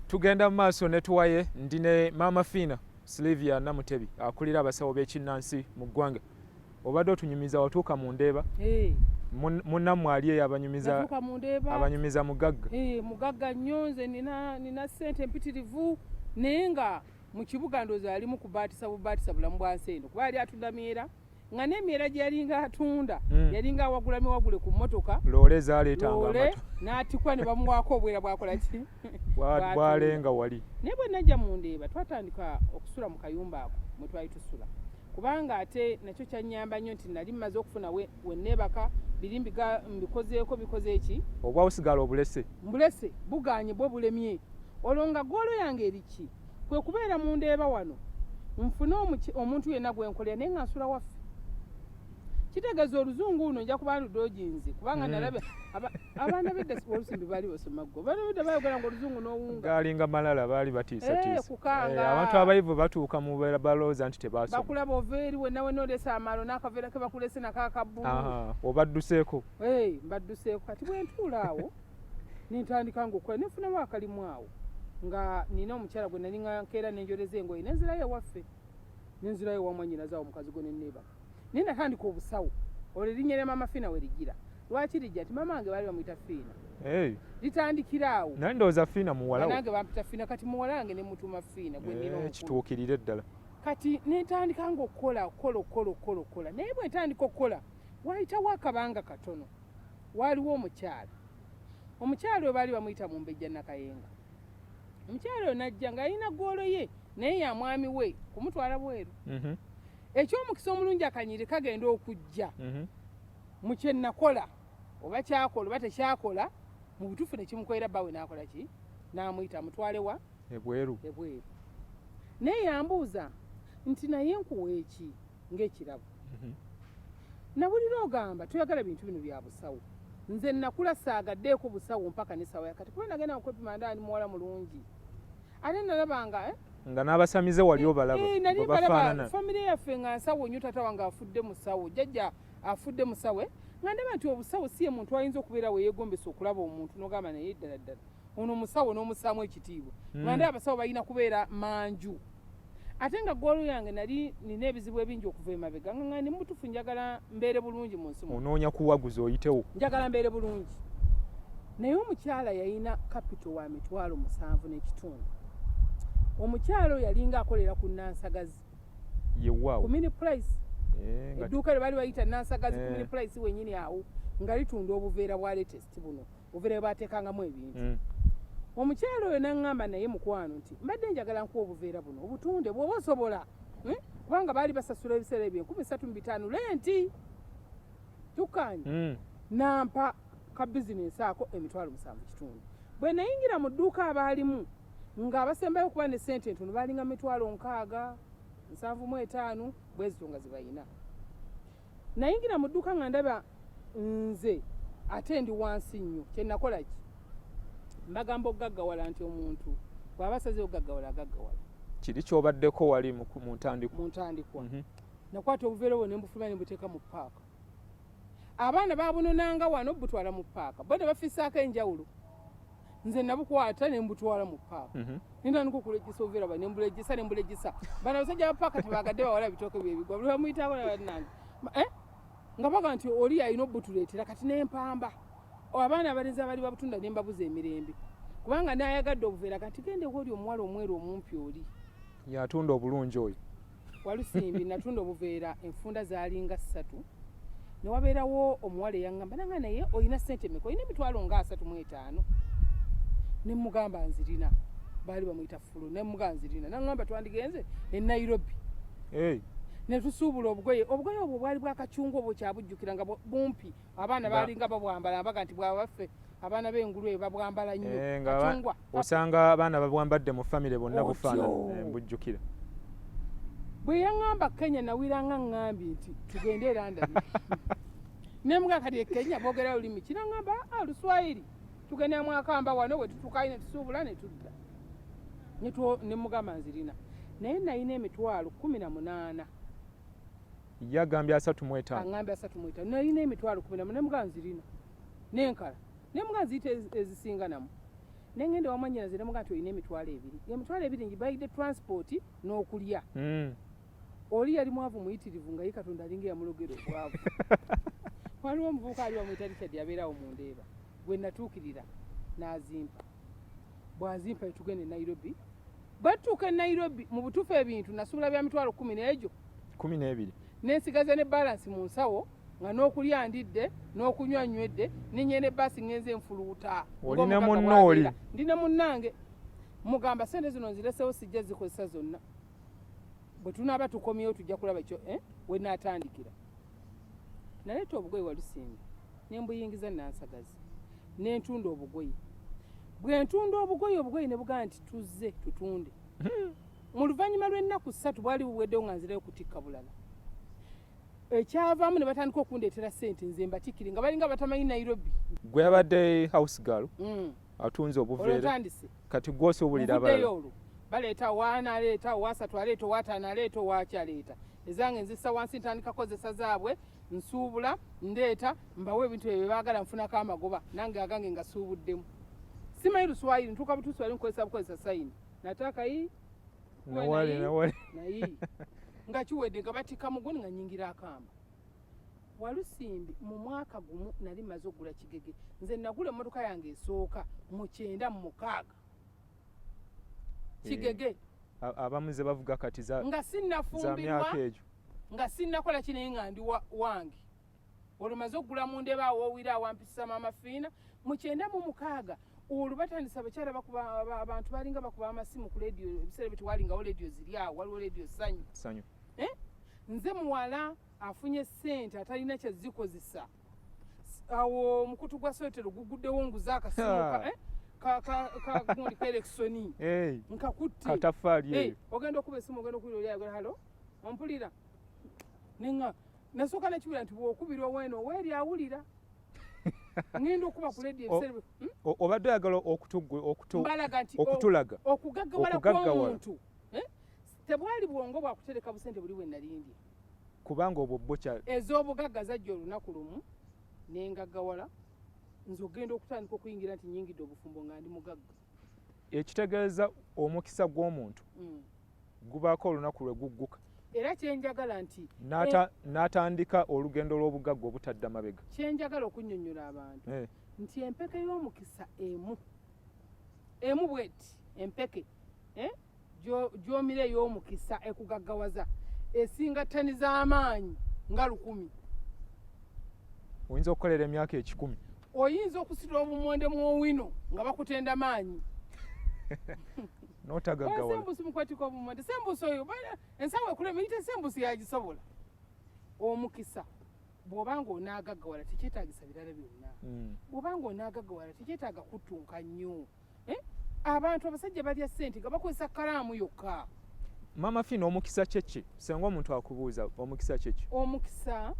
tugenda mu maaso ne tuwaye ndi ne maama fiina silivia namutebi akulira abasawo b'ekinnansi mu ggwanga obadde otunyumiza watuuka mu ndeeba hey. munnammwe ali eyo abanyumiza abanyumiza mugagga hey, eh, mugagga nnyo nze nina, nina sente mpitirivu naye nga mu kibuga ndoozi alimu kubaatisa bubaatisa bulamu bwa nsi eno kuba yali atudamiera nga n'emyera gye yalinga atunda hmm. yalinga awagula miwagule ku mmotoka loole zaaleetangaloole n'atikwa ne bamuwaako obwera bwakola ki bwalenga wali naye bwe najja mu ndeeba twatandika okusula mu kayumba ako mwe twali tusula kubanga ate nakyo kyannyamba nnyo nti nali mmaze okufuna wenneebaka biri mbikozeeko bikoze ki obwa busigala obulese mbulese buganye bwo bulemye olwo nga goolo yange eriki kwe kubeera mu ndeeba wano nfune omuntu yenna gwe nkolera naye nga nsula waffe kitegeeza oluzungu luno nja kuba ludoginzi kubanga mm. nalaba abaana bedda olusimbi baali basoma ggo baana bedda bayogera nga oluzungu n'owunga gaalinga malala baali batiisatiisabantu eh, eh, abayivu batuuka mu beera balooza nti tebasoma bakulaba ova eri wenna wenna oleesa amaalo n'akaveera ke bakulese nako akabbulu obadduseeko eh, mbadduseeko kati bwentuula awo nentandika nga okukola nefunamu akalimu awo nga nina omukyala gwe nali nga nkeera nenjoleza engoye nenzirayo ewaffe nenzirayo ewamwanyinazawo omukazi gwe neneba naye natandika obusawo olwo erinnya lya maama fiina we ligira lwaki lijja ti maama wange baali bamuyita fiina litandikira awo naye ndowooza fiina muwalawanange bampita fiina kati muwala wange ne mutuuma fiina gweninaekituukirire eh, ddala kati nentandika nga okukola okukola okukola okukola okukola naye bwentandika okukola wayitawo akabanga katono waaliwo omukyala omukyala oyo baali bamuyita mumbejja nakayenga omukyala oyo najja ng'alina ggoolo ye naye ya mwami we kumutwala bweru mhm. ekyomukisa omulungi akanyiri kagenda okujja mhm. mu kyenakola oba kyakola oba tekyakola mu butuufu nekimukolera bawe nakola ki namuyita mutwale wa ebweru ebweru naye yambuuza nti naye nkuwa eki ng'ekirabo mhm. nawulira ogamba toyagala bintu bino bya busawo nze nakula saagaddeeko busawo mpaka ne saawa yakati kuba nagenda nkwepima ndaani muwala mulungi ate nalabanga eh? nga n'abasamize wali eh, obalaba eh, famire yaffe nga nsawo nyo taata wange afudde musawo jajja afudde musawe nga ndaba nti obusawo si ye muntu ayinza okubeera weyegombesa okulaba omuntu nogamba naye ddala ddala ono musawo n'omusaamu ekitiibwa nga hmm. ndaba abasawo balina kubeera manju ate nga ggoolo yange nali nina ebizibu ebingi okuva emabega nga ni mutufu njagala mbeere bulungi mu nsi onoonya kuwaguza oyitewo njagala mbeere bulungi naye omukyala yalina kapito wa mitwalo musanvu n'ekitundu omukyala oyo yalinga akolera ku nansagazi yewawo kumini price eh, edduuka lye bali bayita nansagazi kumini eh. price wenyini awo nga litunda obuveera bwa latest buno obuvera bwateekangamu ebintu mm. omukyalo oyo naŋŋamba naye mukwano nti mbadde njagala nkuwa obuveera buno obutunde bwoba osobola hmm? kubanga baali basasula ebiseera ebyo enkumi satu mu bitaano lenti tukkaanye hmm. nampa ka bizinensi ako emitwalo musanvu kitundu bwe nayingira mu dduuka abaalimu ng'abasembayo okuba ne sente entono baalinga mitwalo nkaaga nsanvu mu etaano bwezito nga zibayina nayingira mu dduuka nga ndaba nze ate ndi wansi nnyo kyenakola ki mbagamba okugaggawala nti omuntu bwaba asaze okugaggawala agaggawala kiri kyobaddeko wali mu ntandikwa mu ntandikwa mhm. nakwata obuveera obwo ne mbufuluma ne mbuteeka mu paaka abaana babunonanga wano butwala mu paaka bona bafisaako enjawulo nze nabukwata nembutwala mu paaka mhm. nintandika okulejesa oveera ba nembulejesa nembulejesa bana abasajja bapaaka tebagadde bawala bitooke byebigwa buli bamuyita abana banange eh? nga baga nti oli alina obutuleetera kati nempamba abaana abalenzi abali babutunda nembabuza emirembe kubanga nayagadde obuveera kati gende woli omuwala omweru omumpi oli yatunda obulungi oyo walusimbi natunda obuveera enfunda zaalinga ssatu ne wabeerawo omuwala eyaŋŋamba nanga naye olina ssente meka olina emitwalo nga asatu mu etaano ne mugamba nzirina baali bamuyita fulu ne mugamba nzirina naŋŋamba twandigenze e nairobi ne tusuubula obugoye obugoye obwo bwali bwakacunga obwo kyabujjukira nga bumpi abaana baalinga babwambala mbaga nti bwabaffe abaana b'engulu eyo babwambala nnyo eh, kacungwa osanga abaana babwambadde mu famire bonna bufaanana eh, mbujjukira bwe yaŋŋamba kenya nawira nga ŋŋambye nti tugende era ndabi ne mbwa kati e kenya boogera lulimi kiraŋŋamba a ah, luswayiri tugenda mwakamba wano we tutukayo ne tusuubula ne tudda ne mugamba nzirina naye nalina emitwalo kumi na munaana yagambye asatu mwetaano agambye asatu mwetaano nalina emitwalo kumi na munaana mugamba nzirina nenkala nemuga nziyita ezisinganamu nengenda wamanyinaze nemuga nti olina emitwalo ebiri emitwalo ebiri ngibayidde transport n'okulya hmm. oli yali mwavu muyitirivu nga ye katonda alinga eyamulogera obwavu waliwo omuvubuka ali wamuyita richard yabeerawo mu ndeeba gwe natuukirira n'azimpa bwazimpa etugenda e nairobi batuuka e nairobi mu butuufu ebintu nasuubula bya mitwalo kumi n'egyo kumi n'ebiri nensigaza ne balansi mu nsawo nga n'okulya ndidde n'okunywa nywedde nenyenda ebbaasi ngenze nfuluuta oli ne munno oli ndi ne munnange mugamba sente zino nziresewo sijja zikozesa zonna bwe tunaaba tukomyewo tujja kulaba kyo eh, we naatandikira naleeta obugoye walusimbi ne mbuyingiza nansagazi ne ntunda obugoye bwe ntunda obugoye obugoye ne bugamba nti tuzze tutunde hmm. mu luvannyuma lw'ennaku ssatu bwali buweddewo nga nzirayo kutikka bulala ekyavaamu ne batandika okundeetera sente nze mbatikire nga balinga batamanyi nairobi gwe abadde house gal mm. atunze obuveera kati gwosi obulira abala olwo baleeta waana aleeta owasatu aleeta owataano aleeta owaaki aleeta ezange nzisa wansi ntandika kozesa zaabwe nsuubula ndeeta mbawo ebintu ebyo byebaagala nfunako amagoba nange agange ngasuubuddemu simanyi luswayiri ntuuka butuswayiri nkukozesa bukozesa sayini natakayi nawale nawale naye nga kiwedde nga batikka muguni nga nyingira akamba walusimbi mu mwaka gumu nali maze okugula kigege nze nagula emmotoka yange esooka mu kyenda mu mukaaga eh, kigege abamu ze bavuga kati nga sinnafumbirwa nga sinnakola kinaye nga ndi wange olwo maze okugula mu ndeba awowira awampisa maama fiina mu kyenda mu mukaaga olwo batandisa abakyala bakuba abantu balinga bakuba amasimu ku lediyo ebiseera bye tewalingawo lediyo ziri awo waliwo lediyo sanyu sanyu eh? nze muwala afunye sente atalina kyazikozesa awo omukutu gwa sotero guguddewo nguze akasimuka eh? kagundi kaerekisoni nkakutti katafali ogenda okuba esimu ogenda okuwulira oli ayagala halo ompulira nenga nasooka nekiwulira nti bwokubirwa wena oweeri awulira ngenda okuba ku ledi ebiseera hmm? obadde oyagala okutulaga oh, okugaggawala kwomuntu eh? tebwali bwongo bwakutereka busente buli wenalindi kubanga obwo bukya ez'obugagga zajja olunaku lumu nengaggawala nze okugenda okutandika okuyingira nti nyingidde obufumbo nga ndi mugagga ekitegeeza omukisa gw'omuntu mm. gubaako olunaku lwe gugguka era kyenjagala nti eh, n'atandika olugendo lw'obugagga obutadda mabega kyenjagala okunnyonnyola abantu eh. nti empeke y'omukisa emu emu bweti empeke eh, gyomira ey'omukisa ekugaggawaza esinga ttani z'amaanyi nga lukumi oyinza okukolera emyaka ekikumi oyinza okusitula obumonde mu owino nga bakutenda maanyi notagagawasembusi mukwatika obumonde sembusi oyo ensawo ekulema yite sembusi yagisobola omukisa bwoba nga onaagaggawala tekyetagisa birala byonna hmm. bwoba nga onaagaggawala tekyetaaga kuttunka nnyo mm. eh? abantu abasajja balya sente nga bakozesa kalaamu yokka maama fina omukisa kyeki senga omuntu akubuuza omukisa kyeki omukisa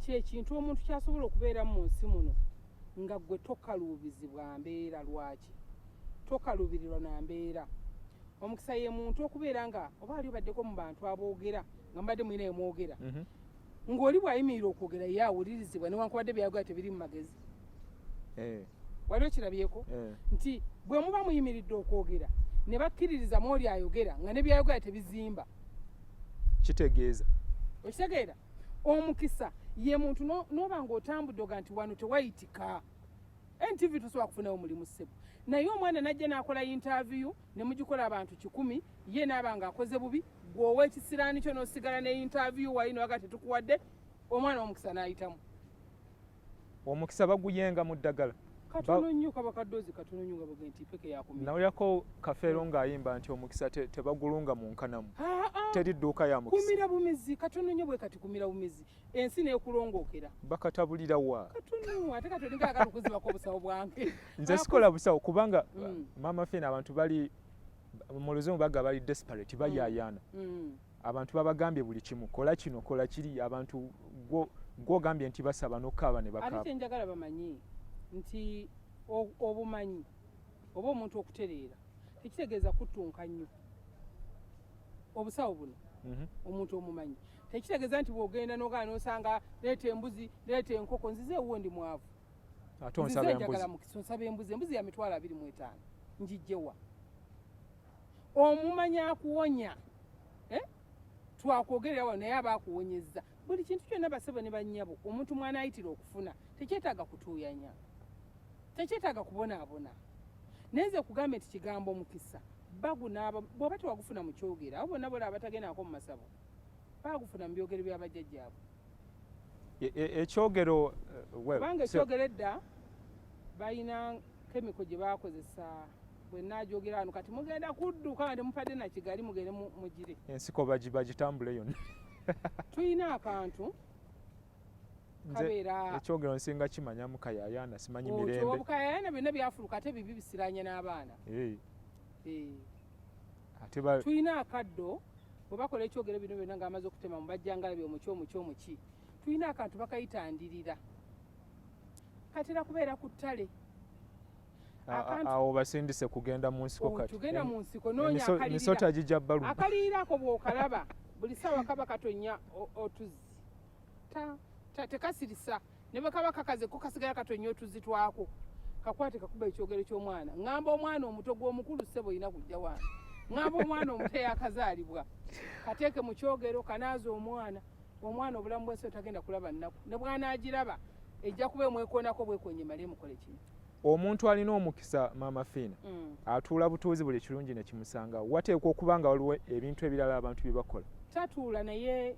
kyekintu omuntu kyasobola okubeera mu nsi muno nga gwe tokaluubizibwa mbeera lwaki tokaluubirirwa na mbeera omukisa ye muntu okubeera nga oba ali obaddeko mu bantu aboogera nga mbadde mulina emwogera mhm. ng'oli bw'ayimirira okwogera ye awulirizibwa newankubadde byayogera tebiri mu magezi eh. wali okirabyeko eh. nti bwe muba muyimiridde okwogera ne bakkiririza mu oli ayogera nga ne byayogera tebizimba kitegeeza okitegeera omukisa ye muntu n'oba ng'otambudde oga nti wano tewayitika ntv tosobola kufunawo mulimu ssebo naye omwana najja n'akola yintaviyu ne mugikola abantu kikumi ye naaba ng'akoze bubi gweowa ekisiraani kyo n'osigala ne yintaviyu wali newaga tetukuwadde omwana omukisa n'ayitamu omukisa baguyenga mu ddagala nawulirako kafeero ng'ayimba nti omukisa tebagulunga mu nkanamu teri dduuka ya mukisakumira bumizi katono nyo bwe kati kumira bumizi ensi nekulongookera bakatabulira wa nze sikola busawo kubanga mm. maama fina abantu bali mu luzungu baga bali desperate bayayaana mm. mm. abantu babagambye buli kimu kola kino kola kiri abantu gwogambye nti basaba nokukaaba ne bakaaba ate kyenjagala bamanyi nti obumanyi oba omuntu okutereera tekitegeeza kuttunka nnyo obusawo buno mhm. omuntu omumanyi tekitegeeza nti bwogenda nogaa nosanga leeta embuzi leeta enkoko nzize ewuwo ndi mwavu ate onsaba embuzi embuzi ya mitwalo abiri mu etaano njijjewa omumanya akuwonya eh? twakwogerera wano naye aba akuwonyezza buli kintu kyonna basebo ne bannyabo omuntu mwana ayitira okufuna tekyetaaga kutuuyanya tekyetaaga kubonaabona naye nze kugambye nti kigambo mukisa bagunaaba bw'oba tewagufuna mu kyogera abo bonna bola abatagendaako mu masabo baagufuna mu byogero bya bajjajjaabwe e, e, ekyogero eh, kubanga ekyogero edda balina kemiko gye bakozesa bwenaajogera wano kati mugenda kudduka nga temupadde na kigali mugende mugire ensiko bagitambule yonna tulina akantu ekyogero nsinga kimanya mukayayana simanyi mirembebukayayana byonna byafuluka ate bibi bisiranye n'abaana eh. Eh. tulina akaddo bwe bakola ekyogero bino byonna nga amaze okutema mu bajjangala byomuki omuki omuki tulina akantu bakayita ndirira katera kubeera ku ttale awo basindise kugenda mu nsiko oh, katitugenda mu nsiko noonyamisota gijja balu akaliirako bwokalaba buli saawa kaba katonya otuzzi tekasirisa ne bwe kaba kakaze ko kasigala katonya otuzzi twako kakwate kakuba ekyogero ky'omwana ŋŋamba omwana omuto gw'omukulu ssebo olina kujja waana ŋŋamba omwana omuto eyakazaalibwa kateeke mu kyogero kanaaza omwana omwana obulamu bwensi tagenda kulaba nnaku ne bwanagiraba ejja kuba emwekonako bwekonye male emukole kimu omuntu alina omukisa maama fiina mm. atuula butuuzi buli kirungi nekimusanga wateekwa okuba nga waliwo ebintu ebirala abantu bye bakola tatuula naye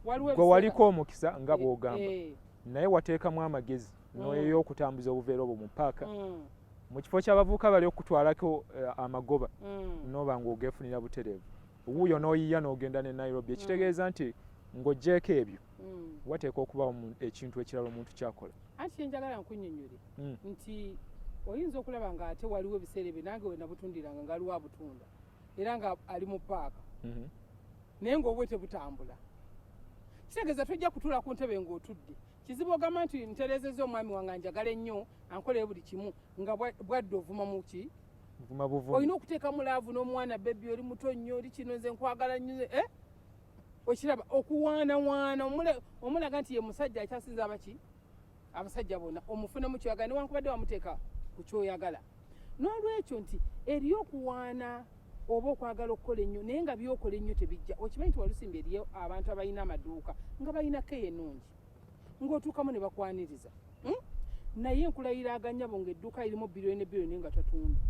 gwe waliko omukisa nga eh, bwogamba eh. naye wateekamu amagezi mm. noyoyokutambuza obuveera obwo mu paaka mm. mu kifo ky'abavubuka bali okutwalako eh, amagoba mm. noba nga ogefunira butereevu wuuyo n'oyiya n'ogenda ne nairobi ekitegeeza mm. nti ng'ogyeko ebyo mm. wateeka okubawo ekintu ekirala omuntu kyakola anti kyenjagala nkunyonyole mm. nti oyinza okulaba nga ate waliwo ebiseera ebyo nange wenabutundiranga nga aliwo abutunda era nga ali mu paaka mm-hmm. naye ngaobwe tebutambula kitegeeza tojja kutuula ku ntebe ng'otudde kizibu ogamba nti nterezeza omwami wange njagala ennyo ankolere buli kimu nga bwadde ovuma muki nvuma buvumi olina okuteekamu laavu n'omwana bebi oli muto nnyo oli kino nze nkwagala nnyo eh? okiraba okuwaanawaana omulaga nti ye musajja akyasinza abaki abasajja bona omufunamu kyoyagala newankubadde wamuteeka ku kyoyagala n'olwekyo nti eri okuwaana oba okwagala okukola ennyo naye nga byokola ennyo tebijja okimanyi nti walusimbi eriyo abantu abalina amaduuka nga balina keyo enungi ng'otuukamu ne bakwaniriza hmm? naye nkulayira aganyabo ng'edduuka lirimu biriyoni ne biriyoni nga tatunda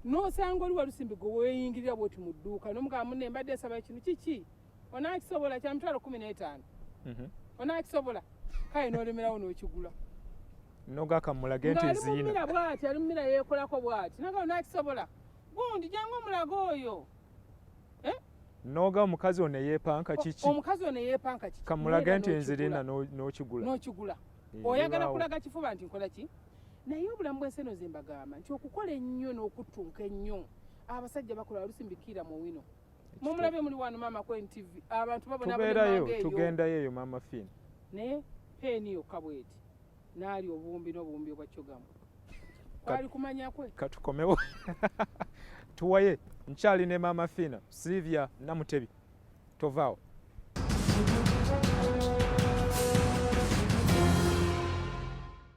n'osanga oli walusimbi gwe weeyingirira bwoti mu dduuka nomugamba munne mbadde esaba kino kiki onaakisobola kya mitwalo kumi n'etaano mhm. onaakisobola kale n'olemerawo n'okigula nogakamulage nti ziina bwati ali mumira yeekolako bwati naga onaakisobola gundi jangu omulaga oyo noga omukazi ono eyepanka kiki omukazi ono eyepanka kiki kamulaga nti enzirina n'okigula n'okigula eh, oyagala kulaga kifuba nti nkola ki naye obulamu bw'ensi eno ze mbagamba nti okukola ennyo n'okuttunka ennyo abasajja bakola olusi mbikiira mu wino mumulabye muli wano maama ku ntv abantu babonabonaeyo tugendayo eyo maama fin naye peeni yokka bweti naali obuwumbi n'obuwumbi obwa cogamu kwali kumanya kwe katukomewo tuwaye nkyali ne maama fiina silivia namutebi tovaawo